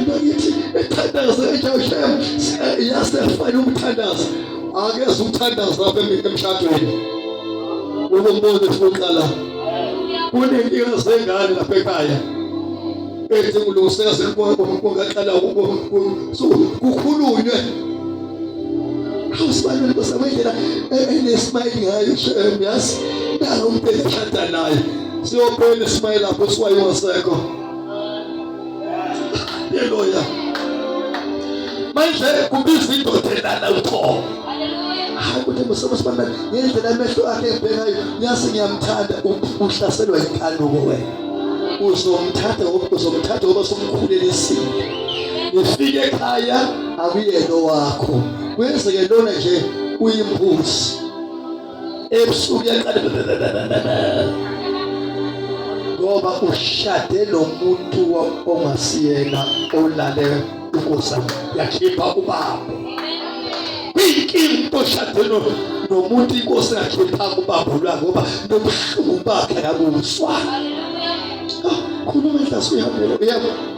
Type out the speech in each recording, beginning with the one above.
bakithi ithandazo eJoshem yasefana umthandazo akeze umthandazo lapha emshadweni ukumbuza esiqala kunenkinga zengane lapha ekhaya ethi kulungiseka sekukwakho kungaqala kukhulunywe awusibalule kwesabendlela enesmayile ngayo shem yazi nalo umuntu eshada naye siyophela ismayile lapho siwayo wasekho Haleluya. Manje kubiza indoda elala uqobo. Hayi kuthi msobo sibona ngendlela amehlo akhe ebhekayo nyazi ngiyamthanda uhlaselwa inkanuko wena. Uzomthatha uzomthatha ngoba somkhulelisile. Ufike ekhaya akuyena wakho. Kwenzeke lona nje uyimbuzi. ebusuku ngoba ushade nomuntu ongasiyena olale ukusa yakhipha ubaba inkinga oshade nomuntu inkosi yakhipha ubaba lwa ngoba nobuhlungu bakhe akuzwa khuluma enhlasini uyabona uyabona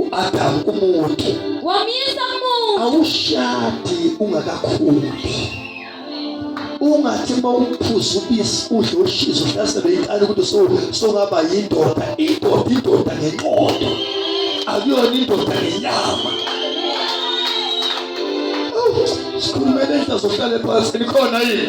uAdamu umuntu wamyisa umuntu awushadi ungakakhuli ungathi uma uphuza ubisi udle ushizo uhlasele inkani ukuthi songaba yindoda indoda indoda ngenqondo akuyona indoda ngenyama sikhulumele enhla zohlale phansi nikhona yini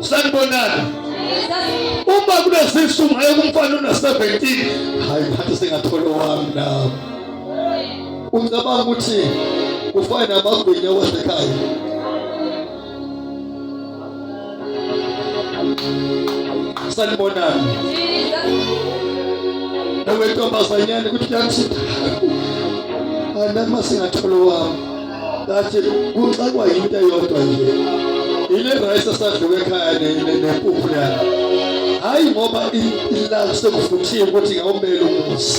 sanibonani uma kunezisu ngayo kumfana una-17 hayi ngathi sengathola owami nami ucabanga ukuthi kufana namagwinya wasekhaya sanibonani nawe ntombazanyane ukuthi kuyathithaka anama singatholo wami kathi kuxakwa yinto eyodwa nje ile rice esadluka ekhaya nempuphu yalo hhayi ngoba ilala sekuvuthiwe ukuthi ngawumele umuzi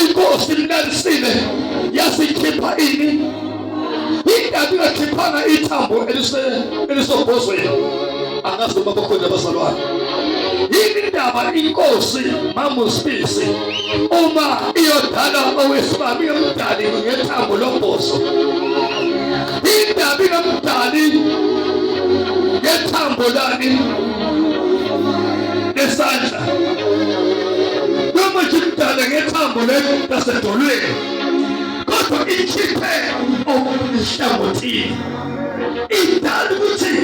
inkosi inelisile yasikhipha ini ingabe ingakhiphanga ithambo elisobhozweni angazi noma bakhona abazalwane yini indaba inkosi mamusibisi uma iyodala owesimami yomdali ngethambo lombozo indaba inomdali ngethambo lani nesandla noma jimdala ngethambo lelo lasedolweni kodwa ikhiphe okuhlangothini idala ukuthi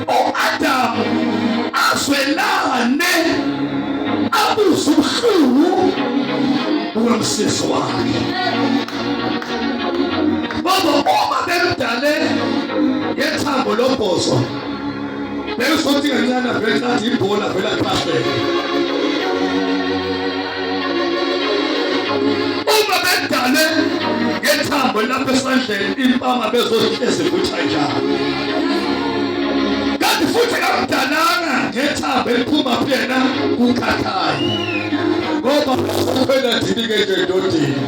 o-adamu azwelane abuze ubuhlungu bukamsisi wakhe baba uma bemdale ngethambo lobhozo Bengizothi kancane vele ngathi ibhola vele aqasheke. Uma bedale ngethambo lapha esandleni impama bezohlezi kuthi kanjalo. Kanti futhi kamdalanga ngethambo eliphuma kuyena kukhathayo. Ngoba uphela dini ke nje ndodini.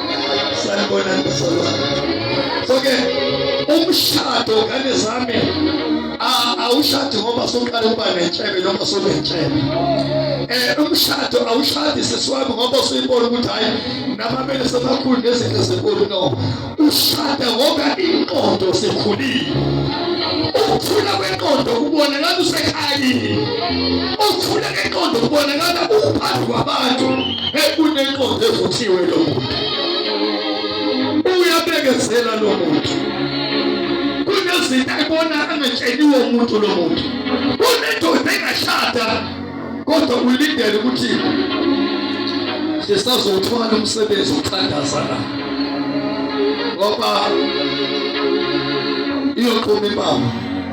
sanibona bazalwane so ke umshado ngane zami awushadi ngoba soqala ukuba nentshebe noma sonentshebe eh umshado awushadi sesiwami ngoba usuyibona ukuthi hayi namabele sebakhulu nezinto ezinkulu no ushada ngoba inqondo sikhulile ukuthula kwenqondo kubonakala usekhayini ukuthula kwenqondo kubonakala uphansi kwabantu ekunenkonzo evuthiwe lo muntu uyabekezela lo muntu kunezinto ebona angatsheliwe umuntu lo muntu kunendoda engashada kodwa ulindele ukuthi sisazowuthwala umsebenzi uthandaza la ngoba iyoqhuma impama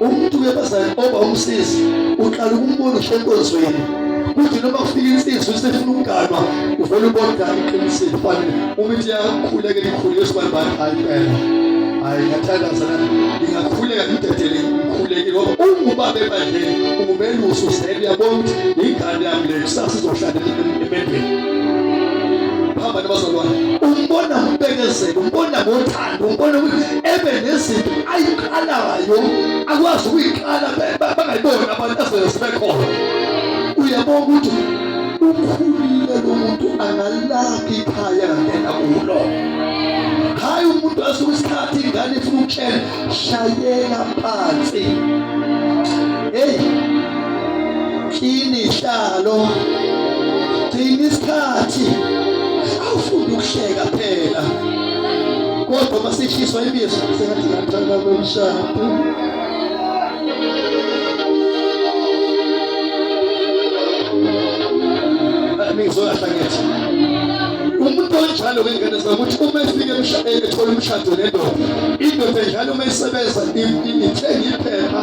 umuntu webazali oba umsizi uqala ukumbona usenkonzweni kuthi noma kufika insizwa usefuna ukuganwa uvele ubonda iqinisile fanele uma ithi yakhuleke likhulu yosibanibani hayi phela hayi ngathandaza la ngingakhuleka ngidedele ngikhuleke ngoba ungubaba ebandleni ungumelusi usele uyabona ukuthi ingane yami le kusasa izohlala emendweni hamba nabazalwane umbona ngokubekezela umbona ngothando ngokubona ukuthi ebe nezinto ayiqalayo akwazi ukuyiqala bangayiboni abantu azele sebekhona uyabona ukuthi ukhulile lo muntu angalakhi ikhaya ngena kulo hayi umuntu asuke isikhathi ingane ifuna ukutshela shayela phansi hey kini hlalo gcina isikhathi awufunde ukuhleka phela kodwa masishiswa ibizo sengathi ngathanda komshado ngizoyahlangeza umuntu onjalo kwengane zakuthi uma efike ethola umshado nendoda indoda njalo uma isebenza ithenga iphepha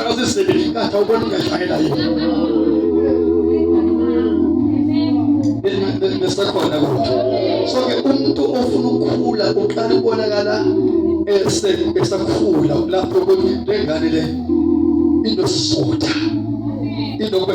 akasisebenzisi inkathi awubona ingashayela yini nesakhona kuthi so ke umuntu ofuna ukukhula uqala ukubonakala esakhula lapho ukuthi lengane le inosizotha inobe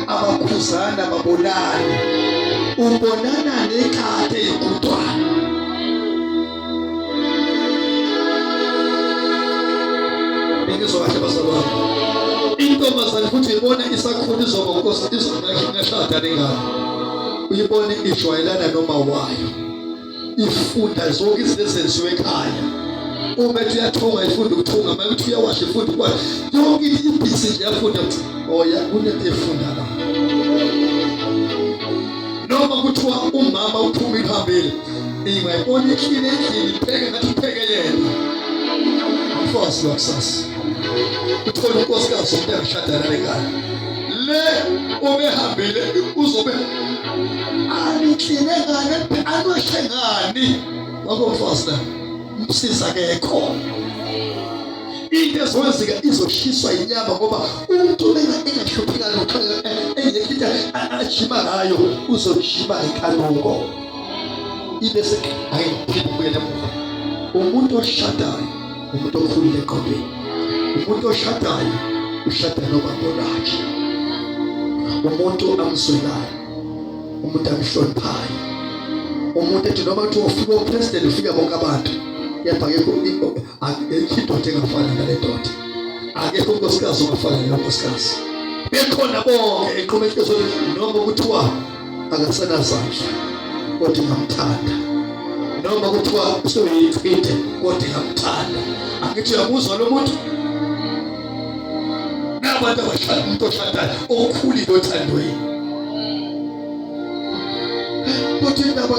abakhuzana babonane ubonana nekade yokudwana bengizokahle bazalwane intombazane futhi ibona isakhona izoba nkosi izonakhe ngashada nengane uyibone ijwayelana noma wayo ifunda zonke izinto ezenziwe ekhaya uma ethi uyathunga ifunda ukuthunga uma ethi uyawasha ifunda ukwasha yonke into ibhizi nje yafunda ukuthi oya oh, kunento efunda la noma kuthiwa umama uphuma iphambili ingayibona ikhile endlini ipheke ngathi ipheke yena umfazi wakusasa uthole unkosikazi umuntu angashadana lengane le obehambile uzobe anikline ngani anweshe ngani wakofosta umsiza akekho into ezowenzeka izoshiswa inyama ngoba umuntu engahluphi ngalo engekho into ajima ngayo uzojima ngenkanuko ibe hayi umuntu oshadayo umuntu okhulile eqondweni umuntu oshadayo ushada nobaba lakhe umuntu amswelayo umuntu amhloniphayo umuntu ethi noma kuthiwa ufika upresident ufika bonke abantu kepha akekho indoda engafana nale ndoda akekho unkosikazi ongafana nalo nkosikazi bekhona bonke eqhume ihlizweni noma kuthiwa akasenazandla kodwa ngamthanda noma kuthiwa usuyinhlwithe kodwa ngamthanda angithi uyamuzwa lo muntu nabantu abashada umuntu oshadayo okhulile othandweni kodwa indaba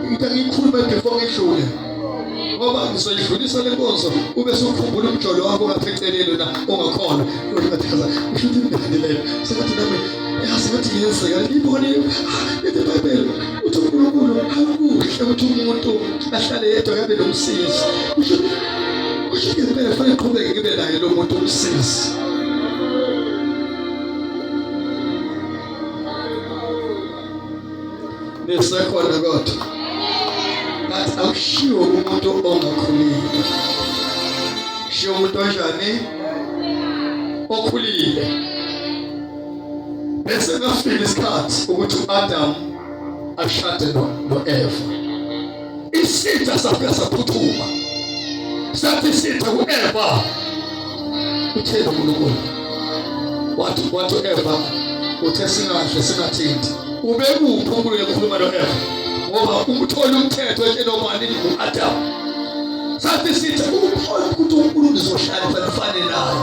into engiyikhuluma before ngidlule ngoba ngizoyidlulisa le nkonzo ube sukhumbula umjolo wakho ngaphecelelo na ongakhona uthi ngathi usho ukuthi ngidlalile sengathi nami Yasingathi ngiyenzeka ngibone into eBhayibheli uthi uNkulunkulu akuhle ukuthi umuntu ahlale yedwa kabe nomsizi. Kusho kusho ngempela fanele qhubeke ngibe naye lo muntu umsizi. Nisekhona kodwa. Ngathi akushiwo umuntu ongakhulile. Shiwo umuntu onjani? Okhulile. bese kafika isikhathi ukuthi uAdam ashade noEva isitha safika saphuthuma sathi isitha kuEva uthele uNkulunkulu wathi wathi uEva uthe singahle singathinti ubekuphi uNkulunkulu ekhuluma noEva ngoba umtholi umthetho etshela ubani uAdam Sathi sithi upholi ukuthi uNkulunkulu uzohlalisa kufane naye.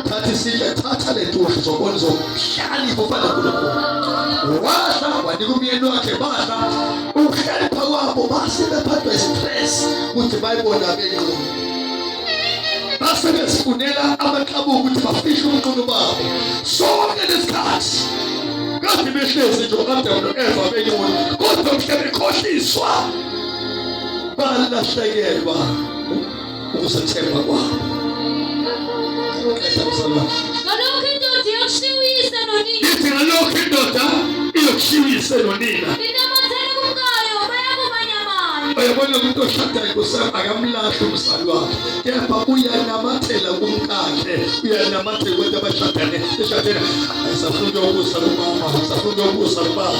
Sathi sithi thatha le ntushi zobona zokuhlalisa ufana uNkulunkulu. Washa wanika umyeni wakhe basha ukuhlalipha kwabo base bephathwa istress ukuthi bayibona benqondo. Base besifunela amaxabuka ukuthi bafishe umqondo babo. Sonke lesikhathi kade behlezi nje uAdamu noEva benqondo kodwa mhla bekhohliswa balahlekelwa ukuzethemba kwabo ngalokho indoda iyokushiya uyise nonina ithi ngalokho indoda iyokushiya uyise nonina inamathela kumkayo bayakumanyamana uyabona umuntu oshadayo kusaba akamlahli umzali wakhe kepha uyanamathela kumkakhe uyanamathela kubantu abashadane eshadene ayisafuna ukuyobusa kumama ayisafuna ukuyobusa kubaba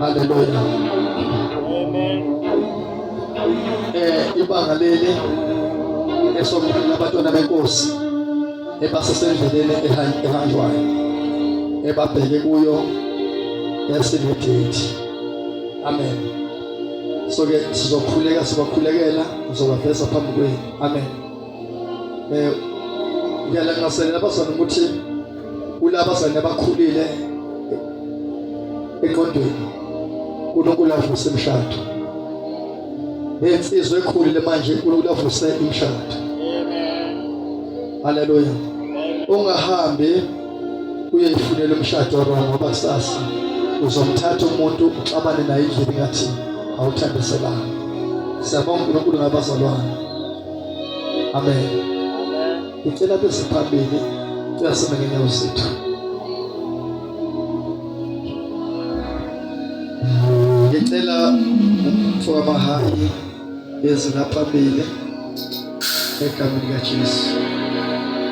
Haleluya. Amen. Eh ibanga leli esomkhulu abatwana benkosi ebasesendleleni ehanjwayo ebabheke kuyo yasenedate. Amen. So ke sizokhuleka sibakhulekela ngizobaveza phambi kwenu. Amen. eh ngiyalangaselela abazana ukuthi kulabazana abakhulile eqondweni uNkulunkulu avuse imshado nensizwa ekhulile manje uNkulunkulu avuse imshado haleluya ungahambi uyeyifunela umshado wrong ngoba kusasa uzomthatha umuntu uxabane naye indlela ngathi awuthandiselanga siyabonga uNkulunkulu ngabazalwane Amen. Ngicela bese phambili uyasima ngenyawo zethu. Ngicela umfowabo abahambe ezinaphambili egameni likaJesu.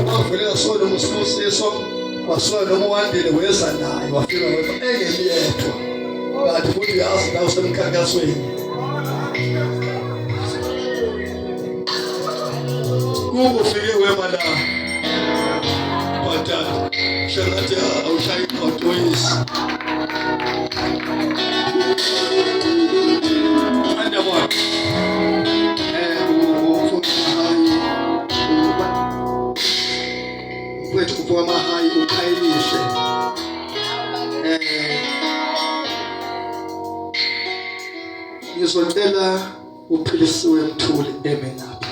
Umavulela sona umsibusiso wasona umwandile weza naye wafika wena engeliyedwa kanti futhi uyazi nawe usemkhankasweni kungufike wema la bhatata shakathi awushayi imoto yisi Mfowethu kuphiwa amahayi ukhayelise. Eh. Ngizocela uphilisiwe mthuli eme ngapha.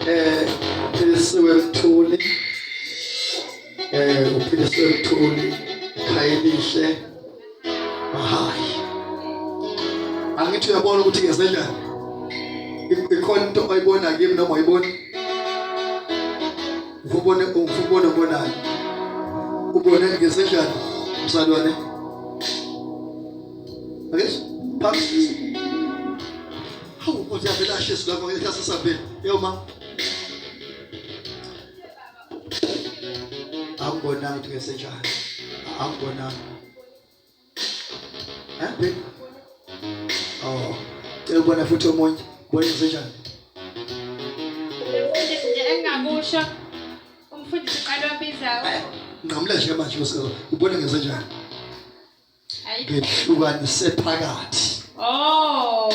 eh philisiwe mthuli eh uphilisiwe mthuli khayelihle mahayi angithi uyabona ukuthi ngezenjani ikhona into oyibona kimi noma uyibona ngubone ngubone bonayo ubone ngezenjani msalwane akes phansi Hawu ukuthi avela ashesi lapho ngeke asasabhela. Yo ma. Angibonanga ukuthi ngesenjani. Angibonanga. Eh baby. Oh. Cela ubona futhi omunye. Bona ngesenjani. Umfundisi nje engakusho. Umfundisi uqala wabizayo. Nqamula nje manje usezo. Ubona ngesenjani. ngehlukanise phakathi oh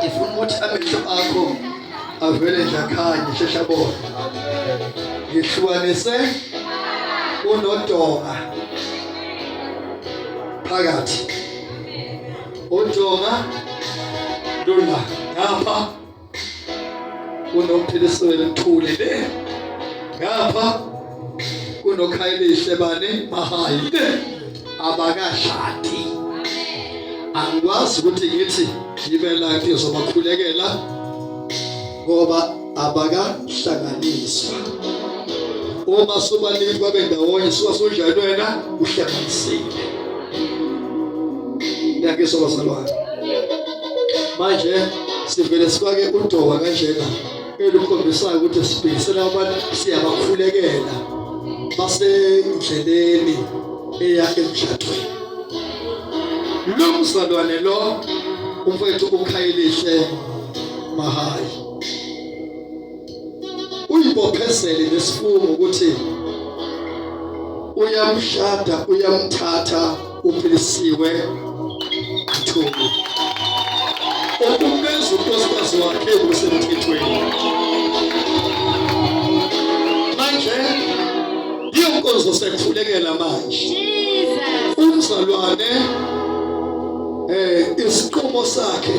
ifuna ukuthi amehlo akho avele nje akhanye shesha bona ngihlukanise unodonga phakathi udonga lula ngapha kunomphilisweni mthuli le ngapha kunokhayelihle bani mahayi le abakashadi angikwazi ukuthi ngithi ngibe la ngizobakhulekela ngoba abakahlanganiswa uma sobaningi babe ndawonye suka sonjani wena uhlanganisile ngiyakuzwa bazalwane manje sivele sifake udoka kanjena elukhombisayo ukuthi sibhekisela abantu siyabakhulekela basendleleni eya emshadweni lo mzalwane lo umfowethu ukhayelise mahayi uyibophezele ngesifungo ukuthi uyamshada uyamthatha uphilisiwe Mthungu okumenza unkosikazi wakhe kusemthethweni manje iyo nkonzo sekuhlulekela manje umzalwane eh isiqumo sakhe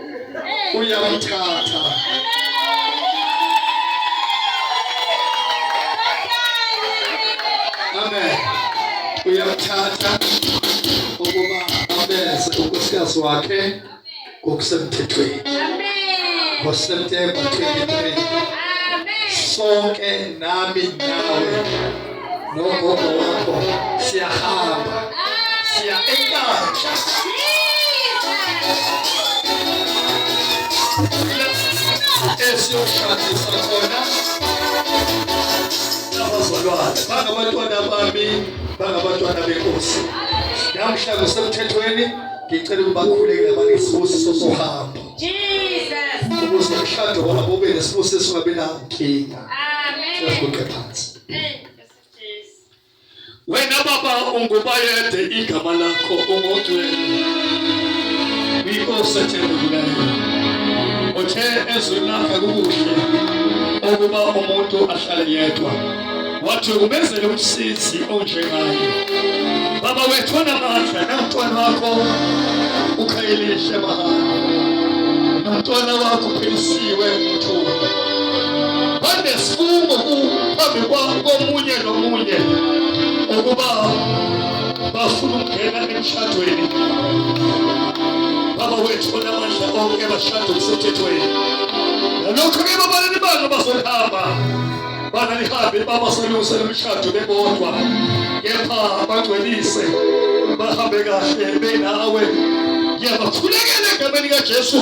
uyamthatha amen uyamthatha ukuba abeze unkosikazi wakhe ngokusemthethweni ngoSeptember 23 sonke nami nawe nogogo wakho siyahamba siya enkandla esiyoshadisa khona abazalwane bangabantwana bami bangabantwana benkosi namhla kusemthethweni ngicela ukubakhuleke abanesibusiso sohambo ukuze umshado wabo ube nesibusiso ungabi nankinga siyasiguqe phansi Wena baba ungubayede igama lakho ungongcwele. Inkosi ethembekileyo. Uthe ezwini lakhe kukuhle ukuba umuntu ahlale yedwa. Wathi umenzele umsizi onjengaye. Baba wethu onamandla namntwana wakho ukhayelihle mahhala. Nomntwana wakho uphelisiwe mthunga. banesifungo phambi komunye nomunye ukuba bafuna ukungena emshadweni baba wethu onamandla onke bashada okusemthethweni nalokhu ke babalini banga bazohamba bana lihambe baba solungisela umshado bebodwa kepha bangcwelise bahambe kahle benawe ngiyabakhulekela egameni kaJesu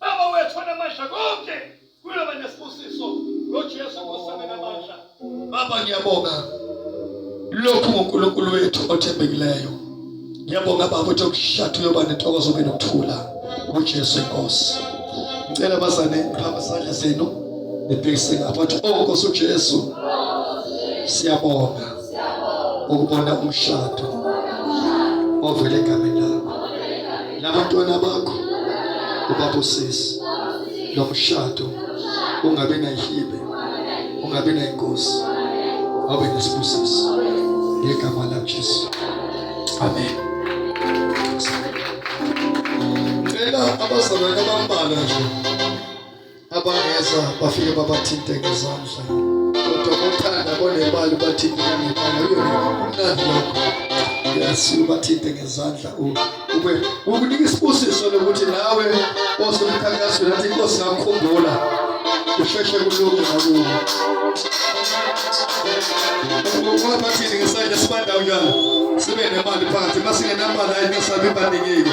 Baba wethu namandla konke kuyoba nesibusiso ngoJesu kusame namandla. Baba ngiyabonga lokhu nguNkulunkulu wethu othembekileyo. Ngiyabonga baba ukuthi ukushatha uyoba nentokozo kube nokuthula ngoJesu inkosi. Ngicela bazane phamba isandla senu nibhekise ngapha ukuthi oh Nkosi uJesu siyabonga. ukubona umshado ovele egameni lakho nabantwana bakho ubabusisi lo mshado ungabi nayihibe ungabi nayingozi abe nesibusisi ngegama lajesu amen cela abazalwane abambalwa nje abangezwa bafike babathinte ngezandla kodwa bothanda bonemali bathinte ngemali uyomnandi lokho yasi ubathinte ngezandla ube ukunika isibusiso lokuthi nawe osomkhankasweni nathi inkosi ngakukhumbula usheshe kulunge nakuwe ngoba bathini ngesandla sibandawo njalo sibe nemali phakathi masingenamali ayingesabi ibaningile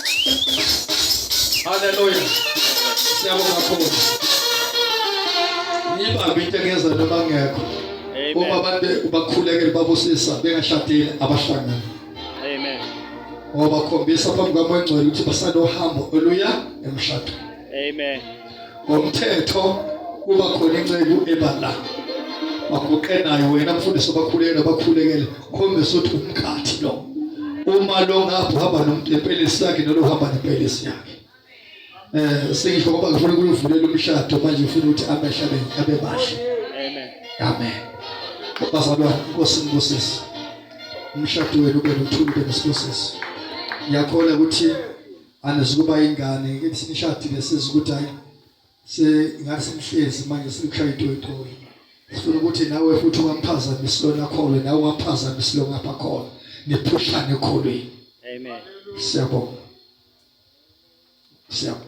Haleluya. Siyabonga kakhulu. Nibambe intekezelo abangekho. Uma abantu ubakhulekele babusisa bengashadile abahlangana. Amen. Ngoba khombisa phambi kwamangcwele ukuthi basanohambo oluya emshadweni. Amen. ngomthetho kuba khona inceku ebala baguqe nayo wena mfundisi obakhulekela bakhulekele khombisa ukuthi umkhathi lo uma lo ngapha hamba nomuntu empelisi yakhe nalo hamba nempelisi yakhe eh sengisho ngoba ngifuna ukuvulela umshado manje ngifuna ukuthi amehlabe abe bahle amen amen bazalwane inkosi ngibusise umshado wenu ube nothuli ube nesibusiso ngiyakhona ukuthi Anisukuba ingane ngithi sinishadile siza ukuthi hayi se ngathi sihlezi manje sikushaya itoyitoyi. Sifuna ukuthi nawe futhi ungamphazamisi lona kholo nawe ungamphazamisi lo ngapha khona. Niphushane kholweni. Amen. Siyabonga. Siyabonga.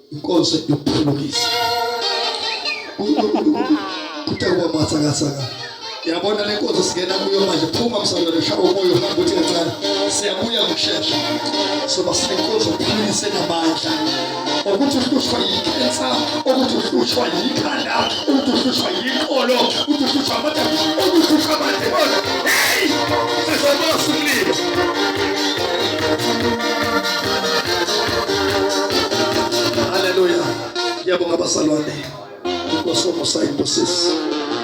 inkonzo yokuphulukisa kuthe kuba mathakasaka yabona le nkonzo singena kuyo manje phuma msangano shaba umoya uhamba uthi kancane siyabuya ngokushesha soba sinenkonzo yokuphulukisa enamandla ukuthi uhlushwa yikhensa ukuthi uhlushwa yikhanda ukuthi uhlushwa yinkolo ukuthi uhlushwa amada ukuthi uhlushwa amademoni heyi sizobasa umlilo Haleluya. Ngiyabonga basalwane. Inkosi omusa imbusisi.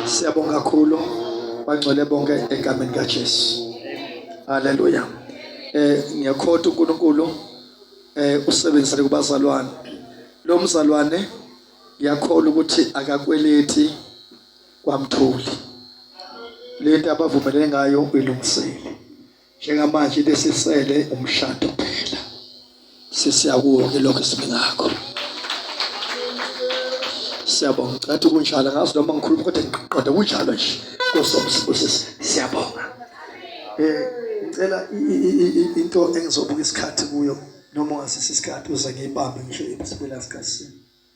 Siyabonga kakhulu bangcwele bonke egameni kaJesu. Haleluya. Eh ngiyakhotha uNkulunkulu eh usebenzele kubazalwane. Lo mzalwane ngiyakholwa ukuthi akakweleti kwamthuli lento abavumelene ngayo uyilungisile njengamanje besisele umshado phela sesiyakuke lokho esibengakho siyabonga cathi kunjalo ngazi noma ngikhuluma kodwa ngiqoda kunjalo nje kosomsibusisi siyabonga eh ngicela into engizobuka isikhathi kuyo noma ngasisi isikhathi uze ngiyibambe ngisho ibisibela sikhathi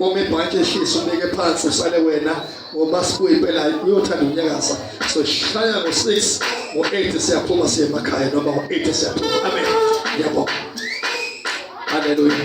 uma ibhanti ehlisa ubeke phansi usale wena ngoba sibuye impela uyothanda unyakaza soshaya ngo-six ngo-eight siyaphuma siye emakhaya noma ngo-eight siyaphuma amen ngiyabonga haleluya